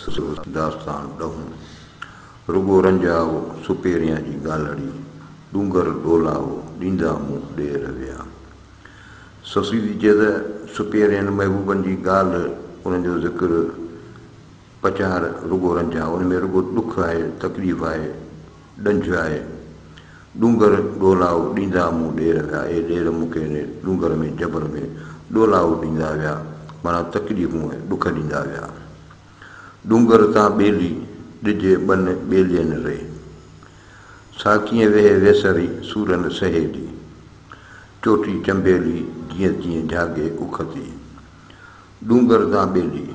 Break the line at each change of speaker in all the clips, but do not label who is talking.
سست داستان ڏهون، رڳو رنجاؤ سپيريان جي ڳالهڙي، ڏونگر ڏولاؤ، ڏيندا مون ڏير ويا. سسي ٿي چئي ته سپيرين محبوبن جي ڳالهه، انهن جو ذڪر، پچار رڳو رنجاء، ان ۾ رڳو ڏک آهي، تڪليف آهي. ڏنج آهي. ڏونگر ڏولائو ڏيندا مون ڏير ويا اي ڏير مون کي انهي ڏونگر ۾ جبر ۾ ڏولائو ڏيندا ويا معنيٰ تڪليفون ۽ ڏک ڏيندا ويا. ڏونگر تان ٻيلي ڏجي ٻن ٻيلين ري. سا ڪيئن ويهي ويسري سورن سهيلي. چوٽي چنبيلي جيئن تيئن جهاڳي اک تي. ڏونگر تان ٻيلي.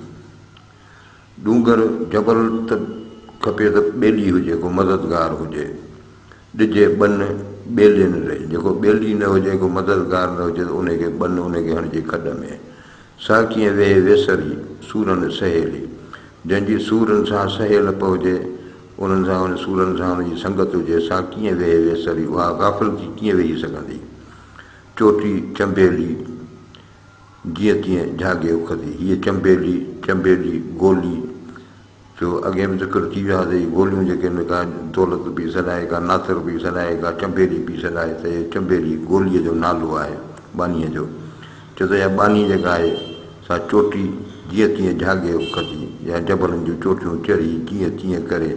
ڏونگر جبل ته کپي ته ٻيلي هجي ڪو مددگار هجي ڏجي ٻن ٻيلين ري جيڪو ٻيلي نه هجي ڪو مددگار نه هجي ته انهي کي ٻن انهي کي هڻجي کڏ ۾. سا ڪيئن ويهي ويسري سورن سهيلي جنهن جي سورن سان سهيلپ هجي انهن سان ان سورن سان ان جي سنگت هجي سا ڪيئن ويهي ويسري اها غافل ٿي ڪيئن ويهي سگهندي چوٽي چنبيلي جيئن تيئن جهاڳي اکتي هيء چنبيلي، چنبيلي، گولي، جو اڳي به ذڪر ٿي ويو آهي ته هي گوليون جيڪي هن کان دولت پئي سڏائي، ڪا ناصر پئي سڏائي، ڪا چنبيلي پئي سڏائي ته هي چنبيلي، گوليء جو نالو آهي ٻانهيء جو. چئو ته اها ٻانهي جيڪا آهي سا چوٽي جيئن تيئن جهاڳي اکتي يا جبلن جون چوٽيون چڙهي جيئن تيئن ڪري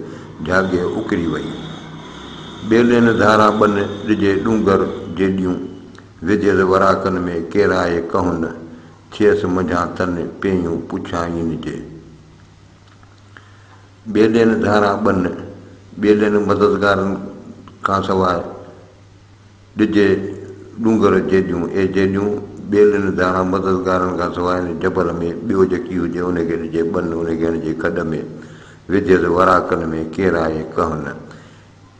جهاڳي اکري وئي. ٻيلين ڌاران ٻن ڏجي ڏونگر جيڏيون وڌيل وراڪن ۾ ڪيرائي ڪهن، ٿئيس منجهان تن پيئون پڇائين جي. ٻيلين ڌاران ٻن، ٻيلين مددگارن کانسواء، ڏجي ڏونگر جيڏيون، اي جيڏيون، ٻيلين ڌاران مددگارن کانسواء ان جبل ۾ ٻيو جيڪي هجي ان کي ڏجي ٻن، ان کي هڻجي کڏ ۾، وڌيل وراڪن ۾ ڪيرائي ڪهن.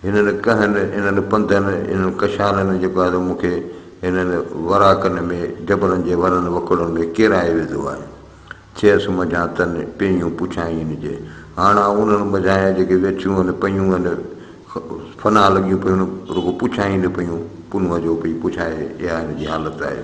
هنن ڪهن، انهن پنڌن، انهن ڪشانن جيڪو آهي سو مون کي هنن وراڪن ۾ جبلن جي ورن وڪڙن ۾ ڪيرائي وڌو آهي. ٿيس منجهان تن پيهيون پڇائين جي. هاڻ آئون انهن منجهانئن جيڪي ويٺيون هن پيون هن فنا لڳيون پيون رڳو پڇائين پيون پنهونء جو پئي پڇائي اها هن جي حالت آهي.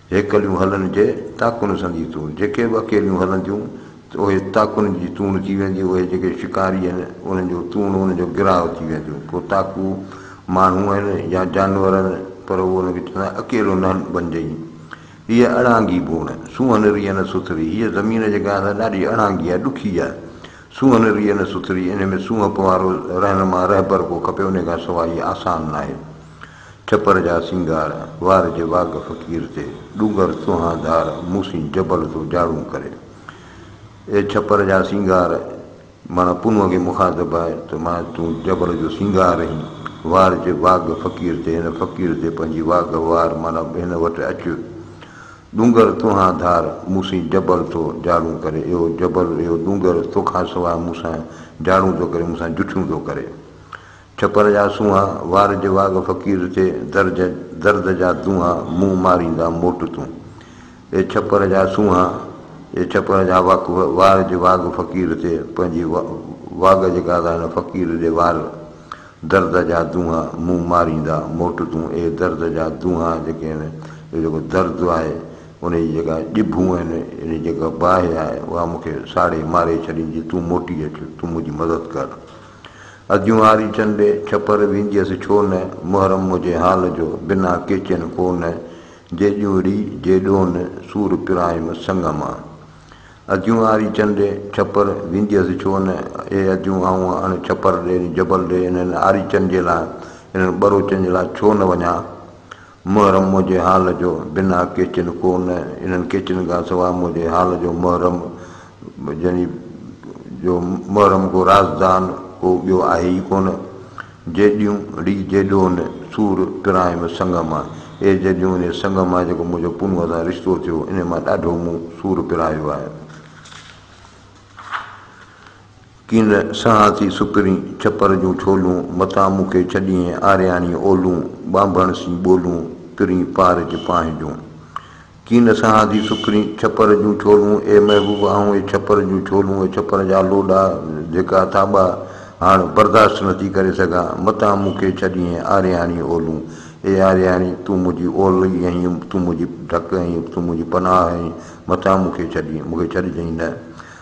هيڪليون هلن جي تاڪن سان جي تون، جيڪي به اڪيليون هلنديون ته اهي تاڪن جي تون ٿي وينديون، اهي جيڪي شڪاري آهن انهن جو تون انهن جو گراهه ٿي وينديون، ڪو تاڪو ماڻهو آهن يا جانور آهن پر هو ان کي چوندا آهن اڪيلو نه بنجئين هيء اڙانگي بوڻ، سونهن ريء نه سٿري، هيء زمين جيڪا آهي سا ڏاڍي اڙانگي آهي ڏکي آهي، سونهن ريء نه سٿري، انهي ۾ سونهپ وارو رهنما رهبر ڪو کپي انهي کان سواء هيء آسان ناهي. ڇپر جا سينگار، وار جي واڳ فقير تي، ڏونگر سونهان ڌار، مون سين جبل ٿو جاڙون ڪري. اي ڇپر جا سينگار، معنيٰ پنهونء کي مخاطب آهي ته معنيٰ تون جبل جو سينگار آهين، وار جي واڳ فقير تي، هن فقير تي پنهنجي واڳ وار معنيٰ هن وٽ اچ. ڏونگر سونهان ڌار، مون سين جبل ٿو جاڙون ڪري، اهو جبل، اهو ڏونگر توکان سواء مون سان جاڙون ٿو ڪري، مون سان جٺيون ٿو ڪري. ڇپر جا سونهان، وار جي واڳ فقير تي، درد درد جا دونها، مون ماريندا موٽ تون. اي ڇپر جا سونهان، اي ڇپر جا واڪ وار جي واڳ فقير تي، پنهنجي واڳ جي ڪادا هن فقير ڏي وار، درد جا دونها، مون ماريندا موٽ تون. اي درد جا دونها جيڪي آهن، اهو جيڪو درد آهي، انهي جي جيڪا ڄڀون آهن، انهي جي جيڪا باهه آهي، اها مون کي ساڙي ماري ڇڏيندي، تون موٽي اچ، تون منهنجي مدد ڪر. اديون آري چنڊي ڇپر وينديس ڇو نه، محرم مجھي حال جو بنا ڪيچين ڪو نه، جي ڄونري جي ڏون سور پرايم سڱ مان. اديون آري چنڊي ڇپر وينديس ڇو نه، اي اديون آئون اڻ ڇپر ڏي جبل ڏي انهن آري چنڊين لاء، انهن ٻروچن جي لاء ڇو نه وڃان. محرم منهنجي حال جو بنا ڪيچن ڪو نه انهن ڪيچن کان سواء منهنجي حال جو محرم يعني جو محرم ڪو رازدان ڪو ٻيو آهي ئي ڪونه. جيڏيون ڙي جيڏون سور پرايم سڱ مان اي جيڏيون انهي سڱ مان جيڪو منهنجو پونوء سان رشتو ٿيو انهي مان ڏاڍو مون سور پرايو آهي. ڪين سهان ٿي سڪرين ڇپر جون ڇولون، متان مون کي ڇڏيئين آرياڻي اولون، ٻانڀڻ سين ٻولون ترين پار جي پانهه جون. ڪين سهان ٿي سڪرين ڇپر جون ڇولون، اي محبوب آئون اي ڇپر جون ڇولون، اي ڇپر جا لوڏا، ڌڪا، ٿاٻا هاڻ برداشت نه ٿي ڪري سگهان، متان مون کي ڇڏيئين آرياڻي اولون، اي آرياڻي تون منهنجي اولهه ئي آهين، تون منهنجي ڍڪ آهين، تون منهنجي پناهه آهين، متان مون کي ڇڏيئين، مون کي ڇڏجئين نه،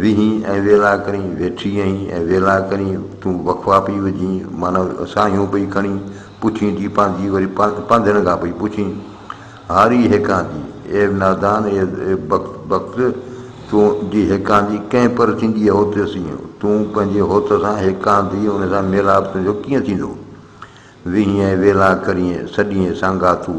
ويهين ۽ ويلا ڪرين ويٺي اهين ۽ ويلا ڪرين تون وقفا پئي وجهين معنيٰ ساهيون پئي کڻين پڇين ٿي پانڌي وري پانڌين کان پئي پڇين هاري هيڪاندي اي نادان اي بخت تون جي هيڪاندي ڪنهن پر ٿيندي هوت سين تون پنهنجي هوت سان هيڪاندي ان سان ميلاپ تنهنجو ڪيئن ٿيندو ويهين ۽ ويلا ڪرين سڏيين سانگاتو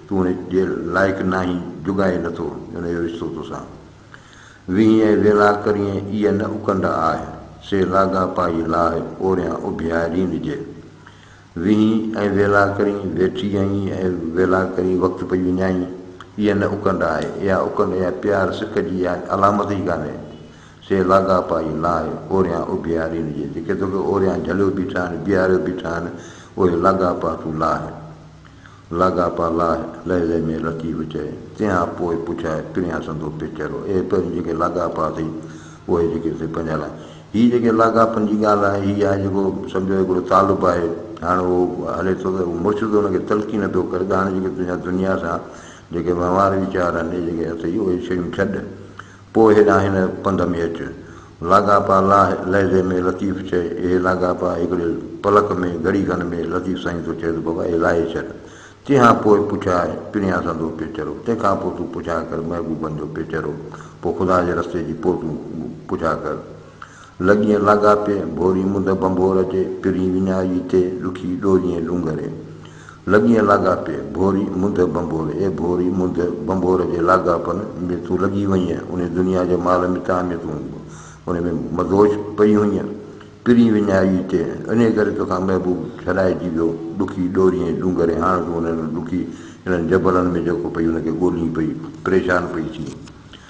تون هن جي لائق ناهين، جوڳائي نه ٿو هن جو رشتو توسان. ويهين ۽ ويلا ڪريين، ايء نه اڪنڊ آهه، سي لاڳاپائي لاهه، اوريان اڀيارين جي. ويهين ۽ ويلا ڪرين، ويٺي آهين ۽ ويلا ڪرين، وقت پئي وڃائين، ايء نه اڪنڊ آهه، اها اڪنڊ يا پيار سک جي علامت ئي ڪانهي، سي لاڳاپائي لاهه، اوريان اڀيارين جي. جيڪي توکي اوريان جهليو بيٺا آهن، بيهاريو بيٺا آهن، اهي لاڳاپا تون لاهه. لاڳاپا لاء لحظي ۾ لطيف چئي، تنهان پوء پڇائي پريان سندو پي چهرو. اهي پهرين جيڪي لاڳاپا اٿئي، اهي جيڪي اٿئي پنهنجا لاء. هي جيڪي لاڳاپن جي ڳالهه آهي، هي آهي جيڪو سمجهو هڪڙو طالب آهي، هاڻ اهو هلي ٿو ته مڙس ته ان کي تلقين نه پيو ڪري ته هاڻ جيڪي تنهنجا دنيا سان جيڪي وهنوار ويچار آهن، اهي جيڪي اٿئي، اهي شيون ڇڏ. پوء هيڏانهن هن پنڌ ۾ اچ. لاڳاپا لاهه لحظي ۾ لطيف چئي، اهي لاڳاپا هڪڙي پلڪ ۾ گهڙي کن ۾ لطيف سائين ٿو چئي ته بابا اهي لاهي ڇڏ. تنهن کان پوء پڇاء پريان سندو پيچرو. تنهن کان پوء تون پڇاء ڪر محبوبن جو پيچرو. پوء خدا جي رستي جي پوء تون پڇاء ڪر. لڳين لاڳاپي ڀوري منڍ ڀنڀور جي، پرين وڃائي ٿئي ڏکي ڏوريين ڏونگري. لڳين لاڳاپي ڀوري منڍ ڀنڀور، اي ڀوري منڍ ڀنڀور جي لاڳاپن ۾ تون لڳي وئينء، انهي دنيا جي مال متاع ۾ تون انهي ۾ مدهوش پئي هئينء، پرين وڃائي ٿئي، انهي ڪري توکان محبوب ڇڏائجي ويو، ڏکي ڏوريين ڏونگري، هاڻ تون انهن ڏکي انهن جبلن ۾ جيڪو پئي ان کي ڳولين پئي، پريشان پئي ٿين.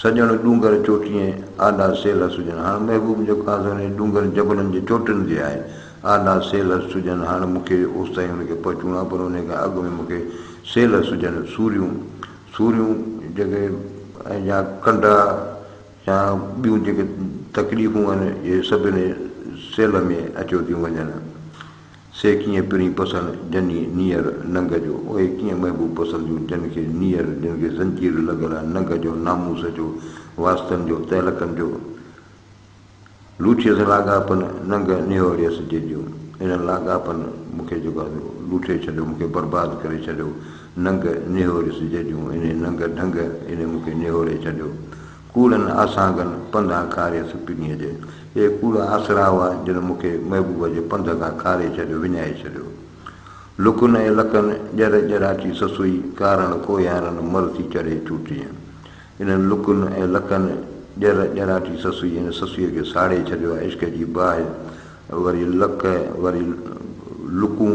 سڄڻ ڏونگر چوٽيين، آڏا سيلهه سجن هاڻ محبوب جو ڪانڌو انهن ڏونگرن جبلن جي چوٽين تي آهي. آڏا سيلهه سجن هاڻ مون کي اوستائين ان کي پهچوڻو آهي پر انهيء کان اڳ ۾ مون کي سيلهه سجن، سوريون، سوريون جيڪي ۽ يا ڪنڊا يا ٻيون جيڪي تڪليفون آهن اهي سڀ انهيء سيلهه ۾ اچيو ٿيون وڃن. سي ڪيئن پرين پسند جني نيئر ننگ جو، اهي ڪيئن محبوب پسنديون جن کي نيئر، جن کي زنجير لڳل آ ننگ جو، ناموس جو، واسطن جو، تعلقن جو، لوٺيس لاڳاپن ننگ نهوريس جي جون، انهن لاڳاپن مون کي جيڪو آهي سو لوٺي ڇڏيو، مون کي برباد ڪري ڇڏيو، ننگ نهوريس جي جون، انهي ننگ ڍنگ انهي مون کي نهوري ڇڏيو، ڪوڙن آسانگن پنڌان کاري سپنيء جي. اهي ڪوڙا آسرا هئا، جن مون کي محبوبه جي پنڌ کان کاري ڇڏيو، وڃائي ڇڏيو. لڪن ۽ لڪن ڄر ڄراچي سسئي، ڪارڻ ڪوهيارن مر ٿي چڙهي چوٽيء. انهن لڪن ۽ لڪن ڄر ڄراچي سسئي هن سسئيء کي ساڙي ڇڏيو آهي، عشق جي باهه وري لڪ وري لڪون،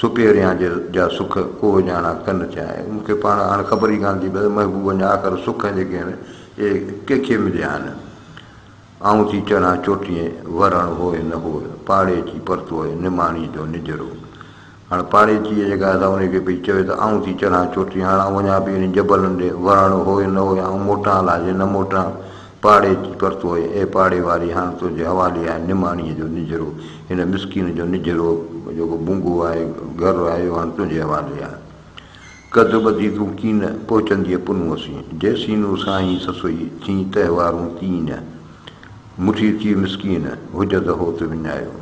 سڪي ريان جي جا سک ڪو اجاڻا ڪن چاهي مون کي پاڻ هاڻ خبر ئي ڪانه ٿي پئي ته محبوبن جا آخر سک جيڪي آهن اهي ڪنهن کي مليا آهن آئون ٿي چڙهان چوٽيء ورڻ هوء نه هوء پاڙيچي پرتوء نماڻيء جو نجرو هاڻ پاڙيچيء جيڪا آهي سا انهيء کي پئي چوي ته آئون ٿي چڙهان چوٽيء هاڻ آئون وڃان پئي انهن جبلن ڏي ورڻ هوء نه هوء آئون موٽان الاجي نه موٽان پاڙي پرتو اي پاڙي واري هاڻ تنهنجي حوالي آهي نماڻيء جو نجهرو، هن مسڪين جو نجهرو جيڪو بونگو آهي، گهر آهي اهو هاڻ تنهنجي حوالي آهي. ڪڌ ٻڌي تون ڪين پهچندينء پنهون سين، جيسينون سائين سسئي ٿين تهوارون تينء، مٺي ٿي مسڪين، هج ته هوت وڃايو.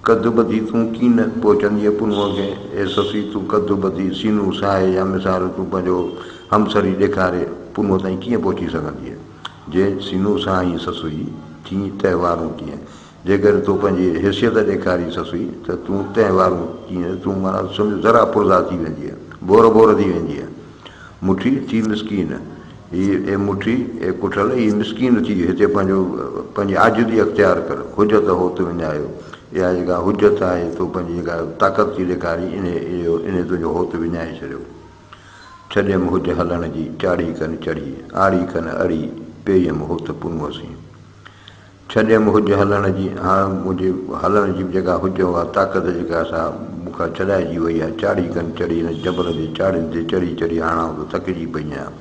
ڪڌ ٻڌي تون ڪين پهچندينء پنهونء کي، اي سسي تون ڪڌ ٻڌي، سينو ساهي يا مثال تون پنهنجو همسري ڏيکاري پنهونء تائين ڪيئن پهچي سگهندينء؟ جي سينو ساهين سسئي، ٿينء تنهن وارون ڪيئن؟ جيڪر تو پنهنجي حيثيت ڏيکارين سسئي ته تون تنهن وارون ڪيئن؟ تون معنيٰ سمجهه ذرا پرزا ٿي ويندينء، ڀور ڀور ٿي ويندينء. مٺي ٿي مسڪين هي، اي مٺي، اي ڪٺل هي مسڪين ٿي، هتي پنهنجو پنهنجي عاجزي اختيار ڪر، حجت هو تون وڃايو، اها جيڪا حجت آهي، تو پنهنجي جيڪا طاقت ٿي ڏيکارين، انهي اهو انهي تنهنجو هوت وڃائي ڇڏيو. ڇڏيم حج هلڻ جي، چاڙهي کن چڙهي، آڙي کن اڙي، پيئيم هوت پنهون سين. ڇڏيم هج هلڻ جي، هاڻ منهنجي هلڻ جي به جيڪا هج هو اها طاقت جيڪا سا مون کان ڇڏائجي وئي آهي. چاڙهي کن چڙهي هن جبل جي چاڙهين تي چڙهي چڙهي هاڻ آئون ته ٿڪجي پئي آهيان.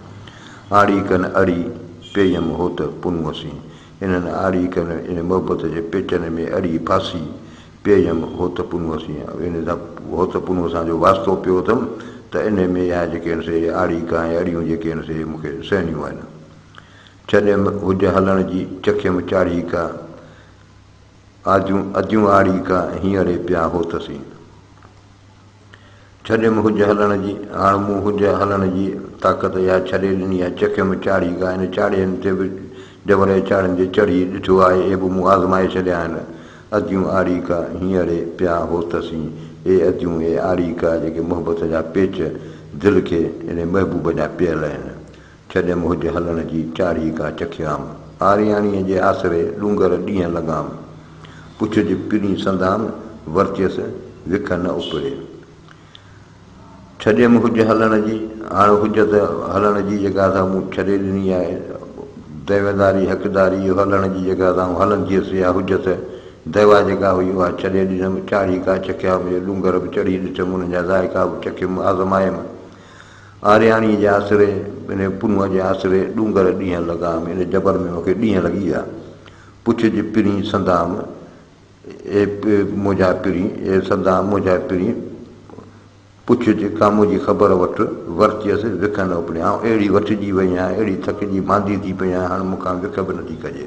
آڙي کن اڙي پيئيم هو ته پنهونسين. انهن آڙي کن ان محبت جي پيچن ۾ اڙي ڦاسي پيئيم هو ته پنهونسين. ان سان هو ته پنهونسان جو واسطو پيو اٿم ته انهي ۾ اها جيڪي آهن سي آڙي کان ۽ اڙيون جيڪي آهن سي مون کي سهڻيون آهن. ڇڏيم هج هلڻ جي، چکيم چاڙهي ڪا، آڌيون اديون آڙي ڪا، هينئڙي پيا هوتسين. ڇڏيم هج هلڻ جي، هاڻ مون هج هلڻ جي طاقت اها ڇڏي ڏني آهي، چکيم چاڙهي ڪا، ان چاڙهين تي به جبرئي چاڙهين تي چڙهي ڏٺو آهي، اهي به مون آزمائي ڇڏيا آهن. اديون آڙي ڪا، هينئڙي پيا هوتسين. اي اديون، اي آڙي ڪا، جيڪي محبت جا پيچ دل کي اڙي محبوب جا پيل آهن. ڇڏيم هج هلڻ جي چاڙهي ڪا چکيام. آرياڻيء جي آسري ڏونگر ڏينهن لنگهام. پڇ جي پرين سندان ورچيس وک نه اپڙي. ڇڏيم هج هلڻ جي هاڻ هج ته هلڻ جي جڳهه ته مون ڇڏي ڏني آهي. دعويداري حقداري اهو هلڻ جي جڳهه ته آئون هلندي هيس يا هج ته دعويٰ جيڪا هئي اها ڇڏي ڏنم. چاڙهي ڪا چکيام اهي ڏونگر به چڙهي ڏٺم انهن جا ذائقا به چکيم آزمايم. آرياڻيء جي آسري، ان پنهونء جي آسري، ڏونگر ڏينهن لڳام، ان جبل ۾ مون کي ڏينهن لڳي ويا. پڇج پرين سندام، اي منهنجا پرين، اي سندام منهنجا پرين، پڇج ڪامون جي خبر وٺ. ورچيس وک نه اپڙيان، آئون اهڙي وٺجي وئي آهيان، اهڙي ٿڪجي ماندي ٿي پئي آهيان، هاڻ مون کان وک به نٿي کڄي.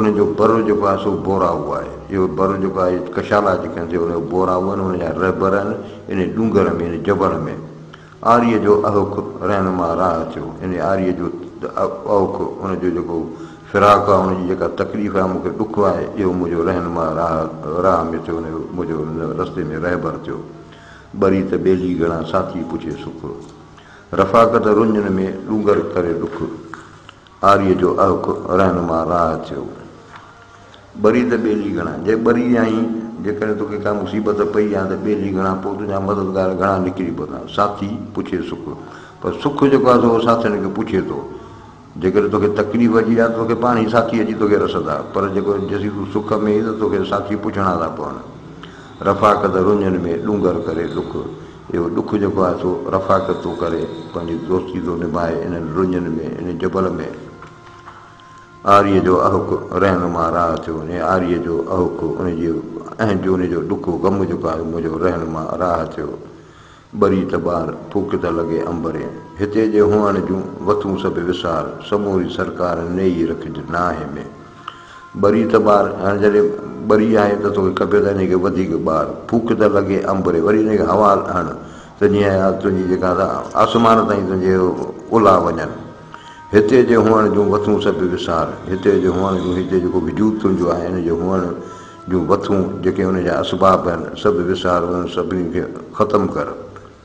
ان جو بر جيڪو آهي سو بوراهو آهي. اهو بر جيڪو آهي ڪشالا جي ڪنڌ تي ان جو بوراهو آهن ان جا رهبر آهن انهي ڏونگر ۾ انهي جبل ۾. آريء جو اهوک رهنما راهه ٿيو. انهي آريء جو اهوک ان جو جيڪو فراق آهي ان جي جيڪا تڪليف آهي مون کي ڏک آهي اهو منهنجو رهنما راهه راهه ۾ ٿيو انهي منهنجو ان رستي ۾ رهبر ٿيو. ٻري ته ٻيلي گهڻا ساٿي پڇي سک. رفاقت رڃن ۾ ڏونگر ڪري ڏک. آريء جو اهوڪ رهنما راهه ٿيو. ٻري ته ٻيلي گهڻا، جي ٻري آهين، جيڪڏهن توکي ڪا مصيبت پئي يا ته ٻيلي گهڻا، پوء تنهنجا مددگار گهڻا نڪري پوندا. ساٿي پڇي سک، پر سک جيڪو آهي سو اهو ساٿين کي پڇي ٿو. جيڪڏهن توکي تڪليف اچي آهي ته توکي پاڻ ئي ساٿي اچي توکي رسندا، پر جيڪو جيسين تون سک ۾ آهين ته توکي ساٿي پڇڻا ٿا پون. رفاقت رڃن ۾، ڏونگر ڪري ڏک. اهو ڏک جيڪو آهي سو رفاقت ٿو ڪري، پنهنجي دوستي ٿو نڀائي انهن رڃن ۾، ان جبل ۾. آريء جو اهوڪ رهنما راهه ٿيو، انهيء آريء جو اهوڪ، ان جي اهنج، ان جو ڏک و غم جيڪو آهي، منهنجو رهنما راهه ٿيو. ٻري ته ٻار، ڦوڪ ته لڳي امبرين. هتي جي هونئڻ جون وٿون سڀ وسار، سموري سرڪار نيئي رکج ناهي ۾. ٻري ته ٻار، هاڻي جڏهن ٻري آهي ته توکي کپي ته انهيء کي وڌيڪ ٻار، ڦوڪ ته لڳي انبري، وري انهيء کي هوا هڻ ته جيئن اها تنهنجي جيڪا سا آسمان تائين تنهنجي الاهه وڃن. هتي جي هئڻ جون وٿون سڀ وسار، هتي جي هئڻ جون، هتي جيڪو وجود تنهنجو آهي ان جي هئڻ جون وٿون، جيڪي ان جا اسباب آهن، سڀ وسار، انهن سڀني کي ختم ڪر.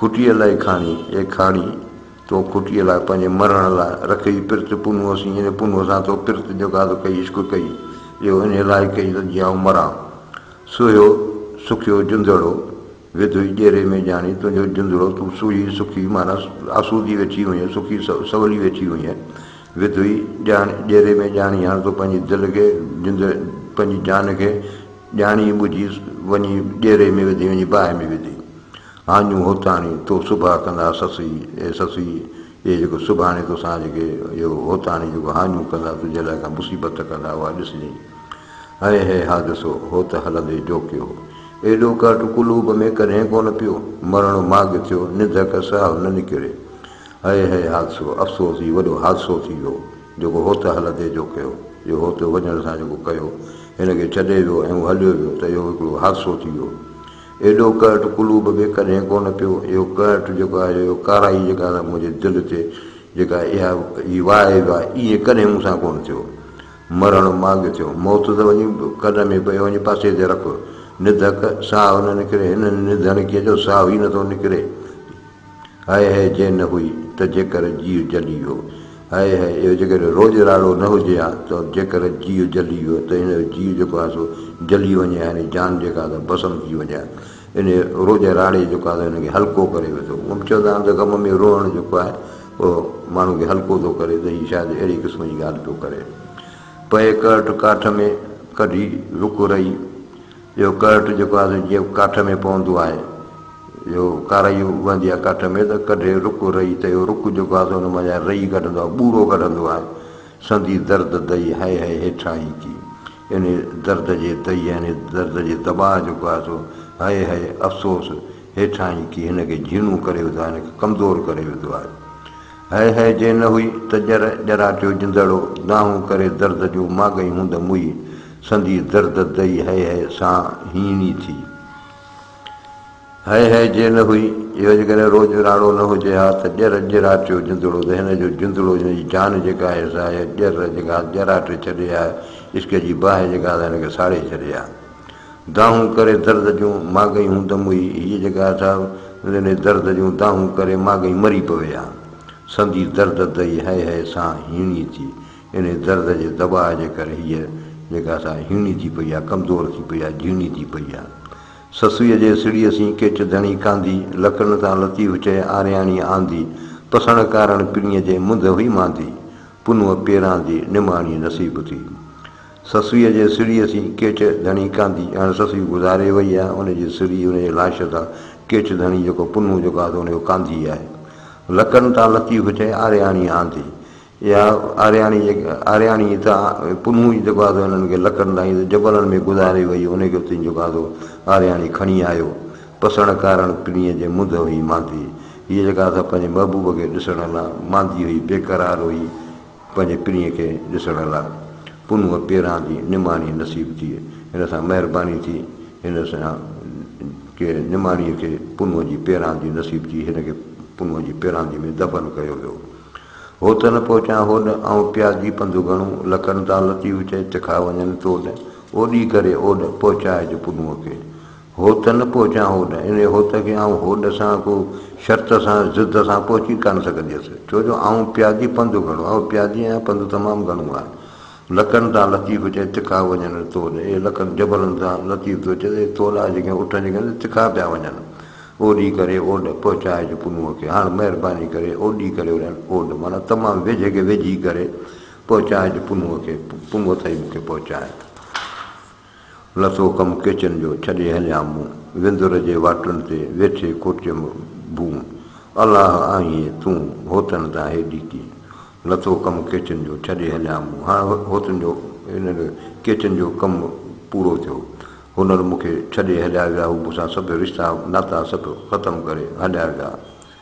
کٽيء لاء کاڻي، اي کاڻي! تو کٽيء لاء پنهنجي مرڻ لاء رکئي پرت، پنهون اسين ان پنهون سان تو پرت جڳا ته ڪئي، عشق ڪئي، اهو انهيء لاء ڪئي ته جيئن آئون مران. سوهيو سکيو جندڙو، وڌوئي ڄيري ۾ ڄاڻي تنهنجو جندڙو، تون سوهي سکي معنيٰ آسودي ويٺي هئينء، سکي سولي ويٺي هئينء، وڌوئي ڄيري ۾ ڄاڻي هاڻ تو پنهنجي دل کي، پنهنجي جان کي ڄاڻي ٻجهي وڃي ڄيري ۾ وڌي، وڃي باهه ۾ وڌي. آڱون هوتاڻي تو سڀا ڪندا سسئي، اي سسئي، اهي جيڪو سڀاڻي توسان جيڪي اهو هوتاڻي جيڪو هاڃون ڪندا تنهنجي لاء ڪا مصيبت ڪندا اها ڏسجئين. هيء هي حادثو، هوت هلندي ڊوڪيو. ايڏو ڪهٽ قلوب ۾ ڪڏهن ڪونه پيو. مرڻ ماڳ ٿيو، نڌڪ ساهه نه نڪري. هيء هي حادثو، افسوس هي وڏو حادثو ٿي ويو، جيڪو هوت هلندي جوڪيو. اهو هوت وڃڻ سان جيڪو ڪيو، هن کي ڇڏي ويو ۽ هو هليو ويو ته اهو هڪڙو حادثو ٿي ويو. ايڏو قهٽ قلوب به ڪڏهن ڪونه پيو. اهو قهٽ جيڪو آهي جو اهو ڪارائي جيڪا آهي سا منهنجي دل تي جيڪا اها هي واء آهي واء ائين ڪڏهن مون سان ڪونه ٿيو. مرڻ ماڳ ٿيو. موت ته وڃي ڪن ۾ پيو وڃي پاسي تي رک. نڌڪ ساهه نه نڪري. هن نڌڻ ڪيئن جو ساهه ئي نٿو نڪري. هاء هاء جي نه هئي ته جيڪر جيء جلي ويو. هاء هاء اهو جيڪڏهن روڄ راڙو نه هجي ها ته جيڪر جيء جلي ويو ته هن جو جيء جيڪو آهي سو جلي وڃي ها يعني جان جيڪا آهي سا ڀسم ٿي وڃي ها. انهيء روڄ راڙي جيڪو آهي سو هن کي هلڪو ڪري وڌو. هونئن به چوندا آهن ته غم ۾ روئڻ جيڪو آهي اهو ماڻهو کي هلڪو ٿو ڪري ته هي شايد اهڙي قسم جي ڳالهه پيو ڪري. پئي ڪرٽ ڪاٺ ۾ ڪڍي رک رهي. اهو ڪرٽ جيڪو آهي سو جيئن ڪاٺ ۾ پوندو آهي اهو ڪارائي اڀندي آهي ڪاٺ ۾ ته ڪڍي رڪ رئي ته اهو رڪ جيڪو آهي سو ان مان جيان رئي ڪڍندو آهي ٻوڙو ڪڍندو آهي سندي درد دئي هئي هئي هيٺاهين ڪي ان درد جي دئي يا ان درد جي دٻاء جيڪو آهي سو هئي هئي افسوس هيٺاهين ڪي هن کي جهيڻو ڪري وڌو آهي هن کي ڪمزور ڪري وڌو آهي هيء هيء جي نه هئي ته ڄر ڄراٽيو جندڙو دانهون ڪري درد جون ماڳئي هوند موئي سندي درد دئي هيء هيء سان هيڻي ٿي. هيء هيء جي نه هئي اهو جيڪڏهن روڄ راڙو نه هجي ها ته ڄر ڄراٽيو جندڙو ته هن جو جندڙو هن جي جان جيڪا آهي سا هيء ڄر جيڪا ڄراٽي ڇڏي ها عشق جي باهه جيڪا سا هن کي ساڙي ڇڏي ها. دانهون ڪري درد جون ماڳئي هون دموئي هيء جيڪا اٿاهه نريني درد جون دانهون ڪري ماڳئي مري پوي ها. سندي درد دئي هئي هئي سان هيڻي ٿي. انهي درد جي دٻاء جي ڪري هيء جيڪا اٿاهه هيڻي ٿي پئي ها، ڪمزور ٿي پئي ها، جهيڻي ٿي پئي ها. سسئيء جي سڙهيء سين ڪيچ ڌڻي ڪانڌي، لڪڙن سان لطيف چئي آرياڻي آندي، پسڻ ڪارڻ پرينء جي منڌ هئي ماندي، پنهون پيراندي نماڻي نصيب ٿي. سسئيء جي سريء سين ڪيٺ ڌڻي ڪانڌي ڄڻ سسئي گذاري وئي آهي، ان جي سري ان جي لاش سان ڪيٺ ڌڻي جيڪو پنهون جيڪو آهي ان جو ڪانڌي آهي. لڪن تان لطيف چئي آرياڻي آندي. اها آرياڻي جيڪا آرياڻي ئي ته پنهون ئي جيڪو آهي انهن کي لڪن تان ائين جبلن ۾ گذاري وئي ان کي اتي جيڪو آهي آرياڻي کڻي آيو. پسڻ ڪارڻ پرينء جي منڌ هئي ماندي. هيء جيڪا آهي سا پنهنجي محبوب کي ڏسڻ لاء ماندي هئي، بيقرار هئي. پنهنجي پرينء کي ڏسڻ لاء پنهونء پيران جي نماڻي نصيب ٿئي. هن سان مهرباني ٿي. هن سان ڪي نماڻيء کي پنهونء جي پيران جي نصيب ٿي. هن کي پنهونء جي پيراندي ۾ دفن ڪيو ويو. هو ته نه پهچان هوڏ، آئون پيادي پنڌ گهڻو لڪن تان لطيف چئي تکا وڃن توڏ، اوڏي ڪري اوڏ پهچائج پنهونء کي. هوت نه پهچان هوڏ، انهيء هوت کي آئون هوڏ سان ڪو شرط سان ضد سان پهچي ڪانه سگهنديس، ڇو جو آئون پيادي پنڌ گهڻو آئون پيادي آهيان پنڌ تمام گهڻو آهي. لڪن تان لطيف چئي تکا وڃن تول اي لڪن جبلن تان لطيف ٿو چئي ته اي تول آهي جيڪي اٺن جيڪي آهن سي تکا پيا وڃن اوڏي ڪري اوڏ پهچائج پنهونء کي هاڻ مهرباني ڪري اوڏي ڪري وريان اوڏ معنيٰ تمام ويجهي کي ويجهي ڪري پهچائج پنهونء کي پنهونء تائين مون کي پهچائي. لٿو ڪم ڪيچن جو، ڇڏي هليان مون. وندر جي واٽن تي، ويٺي کوٽيم ڀون. الاه آهين تون، هوتن تان هيڏي ڪي. لٿو ڪم ڪيچن جو، ڇڏي هليان مون. هاڻ هوتن جو، هنن ڪيچن جو ڪم پورو ٿيو. هنر مون کي ڇڏي هليا ويا. هو مون سان سڀ رشتا ناتا سڀ ختم ڪري هليا ويا.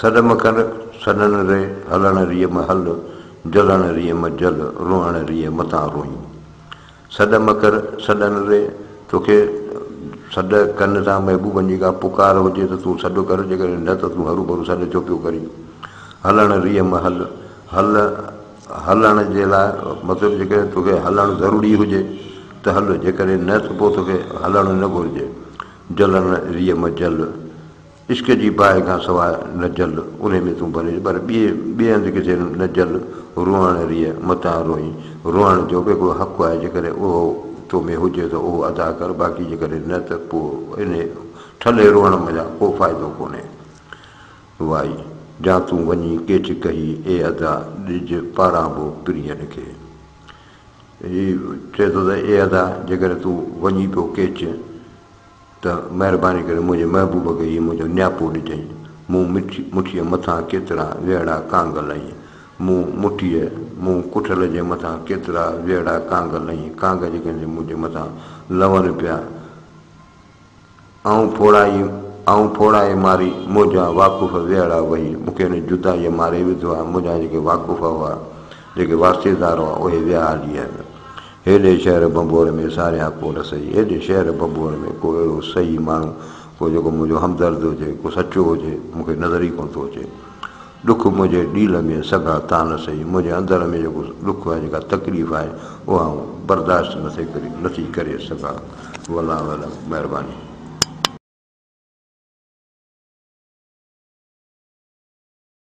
سڏ م ڪر، سڏڻ ري، هلڻ ريء م هل، جلڻ ريء م جل، روئڻ ريء م تان روئين. سڏ م ڪر، سڏڻ ري، توکي سڏ ڪن ٿا محبوبن جي ڪا پڪار هجي ته تون سڏ ڪر، جيڪڏهن نه ته تون هروڀرو سڏ ڇو پيو ڪرين. هلڻ ريء م هل، هل، هلڻ جي لاء، مطلب جيڪڏهن توکي هلڻ ضروري هجي ته هل، جيڪڏهن نه ته پوء توکي هلڻ نه گهرجي. جلڻ ريء م جل. عشق جي باهه کان سواء نه جل، انهي ۾ تون ڀريج پر ٻئي ٻئي هنڌ ڪٿي نه جل، روئاڻ ريء متان روئين، روئاڻ جو به هڪڙو حق آهي، جيڪڏهن اهو تو ۾ هجي ته اهو ادا ڪر، باقي جيڪڏهن نه ته پوء انهي ٺلهي روئڻ منجهان ڪو فائدو ڪونهي. وائي! جا تون وڃي ڪيچ ڪهي، اي ادا! ڏج پاران به پرينء کي. هي چئي ٿو ته اي ادا! جيڪڏهن تون وڃي پيو ڪيچ. ته مهرباني ڪري منهنجي محبوب کي هي منهنجو نياپو ڏجئين. مون مٺيء مٿان ڪيترا ويڙها ڪانگ لئين. مون مٺيء، مون ڪٺل جي مٿان ڪيترا ويڙها ڪانگ لئين، ڪانگ جيڪي سي منهنجي مٿان لون پيا. آئون ڦوڙائي، آئون ڦوڙائي ماري، منهنجا واقف ويڙها وهي، مون کي هن جدائيء ماري وڌو آهي، منهنجا جيڪي واقف هئا، جيڪي واسطيدار هئا، اهي ويا هلي آهن. هيڏي شهر ڀنڀور ۾ ساريان ڪو نه سهي. هيڏي شهر ڀنڀور ۾ ڪو اهڙو سهي ماڻهو، ڪو جيڪو منهنجو همدرد هجي، ڪو سچو هجي، مون کي نظر ئي ڪونه ٿو اچي. ڏک منهنجي ڏيل ۾ سگها تان نه سهي، منهنجي اندر ۾ جيڪو ڏک آهي، جيڪا تڪليف آهي، اها آئون برداشت نه ٿي ڪري سگهان. والله اعلم. مهرباني.